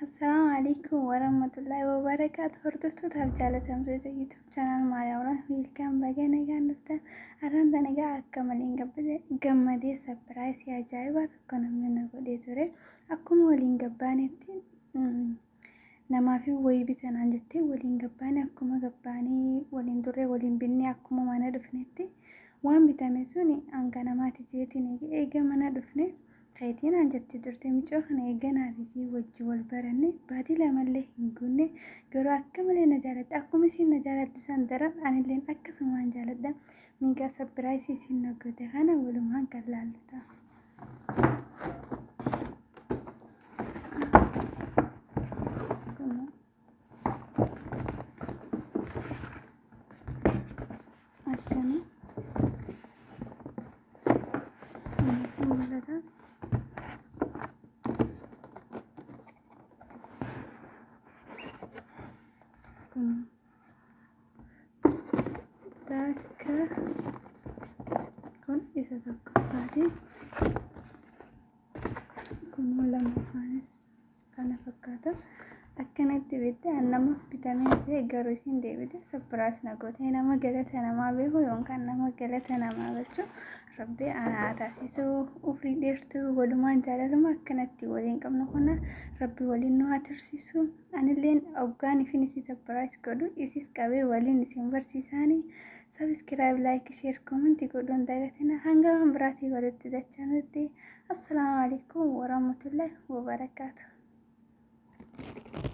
Assalaamu alaikum warahmatullahi wabarakaatu hordoftootaaf jaalatamtoota YouTube channel Maariyaawuraan wiilkaan baga nagaan dhuftan arraan tana egaa akka malee hin gammadee sapiraayisii ajaa'ibaa tokko namni na godhee ture akkuma waliin gabbaanetti namaaf hin wayii bitanaan jettee waliin gabbaane akkuma gabbaanii waliin turre waliin binnee akkuma mana dhufnetti waan bitame sun hanga namaati jeetiin eega mana dhufne keetii naan jettee turte mucaa kana eega naaf isii wajji wal baranne baatii lamallee hin guunne garuu akka malee na jaalatte akkuma isiin na jaalatti san daran anilleen akkasumaan jaaladha miigaa sabbiraayisii isiin na goote kana walumaan kan laallu ta'a. akkana kanatti mul'ata kun takka kun isa tokkoffaati kun lamaffaanis kana fakkaata akkanatti bitte an nama bitamee see garu isin deebite sapiraas na gootee nama galata namaa beeku yookaan nama galata namaa galchu rabbi anaa taasisu ufrii dheertu walumaan jaalaluma akkanatti waliin qabnu kana rabbi waliin nu haa tursiisu anilleen oggaan ifin isi sapiraas godhu isis qabee waliin isin barsiisaanii Subscribe, like, share, comment godhuun dagatina hanga waan biraatii walitti dachanutti. Assalaamu alaikum warahmatullahi wabarakaatu.